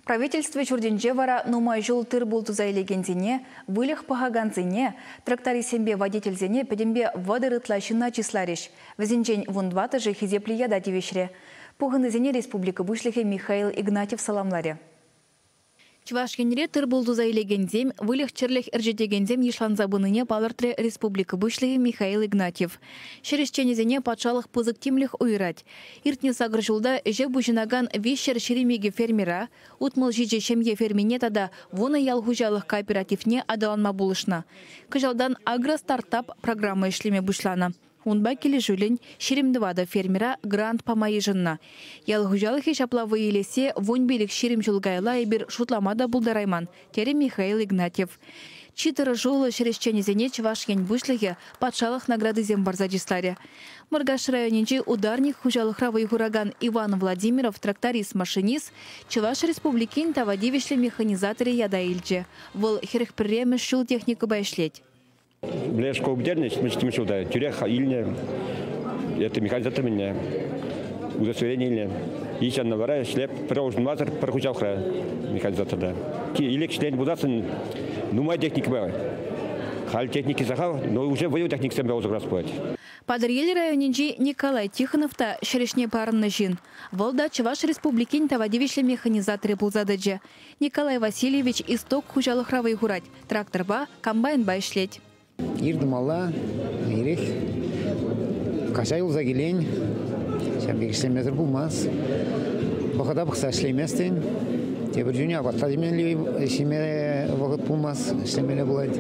Правительство ҫуртӗнче вара нумай ҫул тыр-пул туса илекенсене, выльӑх пӑхакансене, трактористсемпе водительсене пӗтӗмпе вӑтӑр ытла ҫынна чысларӗҫ. Вӗсенчен вун тӑваттӑшӗ хисеплӗ ята тивӗҫрӗ. Пухӑннисене республика Пуҫлӑхӗ Михаил Игнатьев саламларӗ. Чӑваш Енре тыр-пул туса илекенсем, выльӑх-чӗрлӗх ӗрчетекенсем йышланса пынине палӑртрӗ республика Пуҫлӑхӗ Михаил Игнатьев. Ҫӗр ӗҫченӗсене патшалӑх пысӑк тимлӗх уйӑрать. Иртнӗ сакӑр ҫулта ӗҫе пуҫӑнакан виҫҫӗр ҫирӗмикӗ фермера, утмӑл ҫичӗ ҫемье фермине тата вунӑ ял хуҫалӑх кооперативне аталанма пулӑшнӑ. Кӑҫалтан агростартап программа ӗҫлеме пуҫланӑ. Унпа килӗшӳллӗн ҫирӗм тӑватӑ фермера грант пама йышӑннӑ. Ял хуҫалӑхӗ ҫапла вӑй илессе вун пилӗк-ҫирӗм ҫул каялла эпир шутлама та пултарайман, терӗ Михаил Игнатьев. Чи тӑрӑшуллӑ хресченӗсене Чӑваш Ен Пуҫлӑхӗ патшалӑх наградисем парса чысларӗ. Муркаш районӗнчи Ударник хуҫалӑхра вӑй хуракан Иван Владимиров тракторист-машинист Чӑваш Республикин тава тивӗҫлӗ механизаторӗ ята илчӗ. Вӑл хӗрӗх пӗрремӗш ҫул техникӑпа ӗҫлет. Млеш шкул пӗтернӗ ҫитмӗл ҫулта. Тӳрех илнӗ. Это механизатор мӗнне удостоверение илнӗ. Ик янна вара ӗҫлеп пӗр улшӑнмасӑр пӗр хуҫалӑхра механизаторта. Илек ҫитейнӗ пуласшӑн нумай техника мар. Халь техники сахал, но уже вӑю техниксемпе усӑ курас пулать. Патӑрьел районӗнчи Николай Тихонов та ҫӗр ӗҫне парӑннӑ ҫын. Вӑл та Чӑваш Республикин тава тивӗҫлӗ механизаторӗ пулса тӑчӗ. Николай Васильевич Исток хуҫалӑхра вӑй хурать, тракторпа, комбайнпа ӗҫлет. Иртмалла ирех каҫа юлса килен. Ҫав пек ӗҫлемесӗр пулмасть. Вӑхӑта пӑхса ӗҫлейместӗн. Тепӗр чухне апатра ӗҫлемелли вӑхӑт пулмасть, ӗҫлемелле пулать.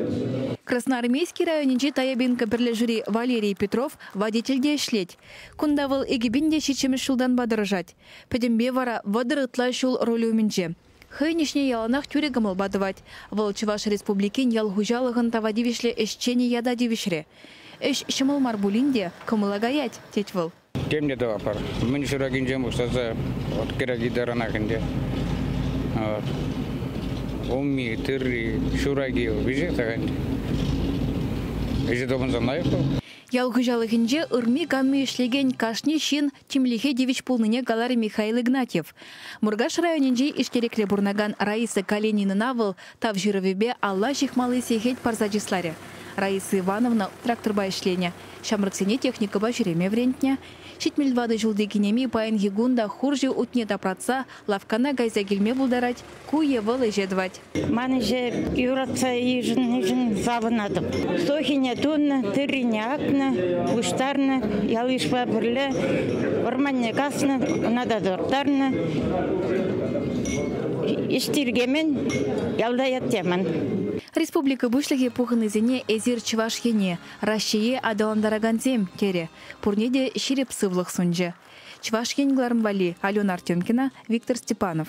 Красноармейски районӗнчи Таябинка пӗрлешӳри Валерий Петров водитель те ӗҫлет. Кунта вӑл икӗ пин те ҫиччӗмӗш ҫултанпа тӑрӑшать. Пӗтӗмпе вара вӑтӑр ытла ҫул роль умӗнче. Хӑйӗн ӗҫне яланах тӳрӗ кӑмӑлпа тӑвать. Вӑл Чӑваш Республикин ял хуҫалӑхӑн тава тивӗҫлӗ ӗҫченӗ ята тивӗҫрӗ. Ӗҫ ҫӑмӑл мар пулин те кӑмӑла каять, тет вӑл. Тем те тӑватпӑр. Мӗн шыракинчен пуҫласа открять йытаранах ӗнтӗ. Улми, тырри, ҫураки веҫех та ӗнтӗ. Ӗҫе тупӑнса лайӑх вӑл. Ял хуҫалӑхӗнче ырми-канми ӗҫлекен кашни ҫын тимлӗхе тивӗҫ пулнине каларӗ Михаил Игнатьев. Муркаш районӗнчи Иштерекре пурӑнакан Раиса Калининӑна вӑл Тав ҫырӑвӗпе алла ҫыхмалли сехет парса чысларӗ. Раиса Ивановна тракторпа ӗҫленӗ, ҫамрӑксене техникӑпа ҫӳреме вӗрентнӗ. Ҫитмӗл тӑватӑ ҫулти кинеми паянхи кун та хурҫӑ утне тапратса лавккана кайса килме пултарать. Ку е вӑл ӗҫе тӑвать. Ман ӗҫе юратса йышӑннишӗн савӑнатӑп. Сухине тунӑ, тыррине акнӑ, пуҫтарнӑ, ял-йышпа пӗрле вӑрманне каснӑ, ӑна та турттарнӑ. Ӗҫтиркемен ялта ят яман. Республика Пуҫлӑхӗ пухӑннисене эсир Чӑваш Ене, Раҫҫее аталантаракансем, терӗ, пурне те ҫирӗп сывлӑх сунчӗ. Чӑваш Ен кӑларӑм валли, Алена Артемкина, Виктор Степанов.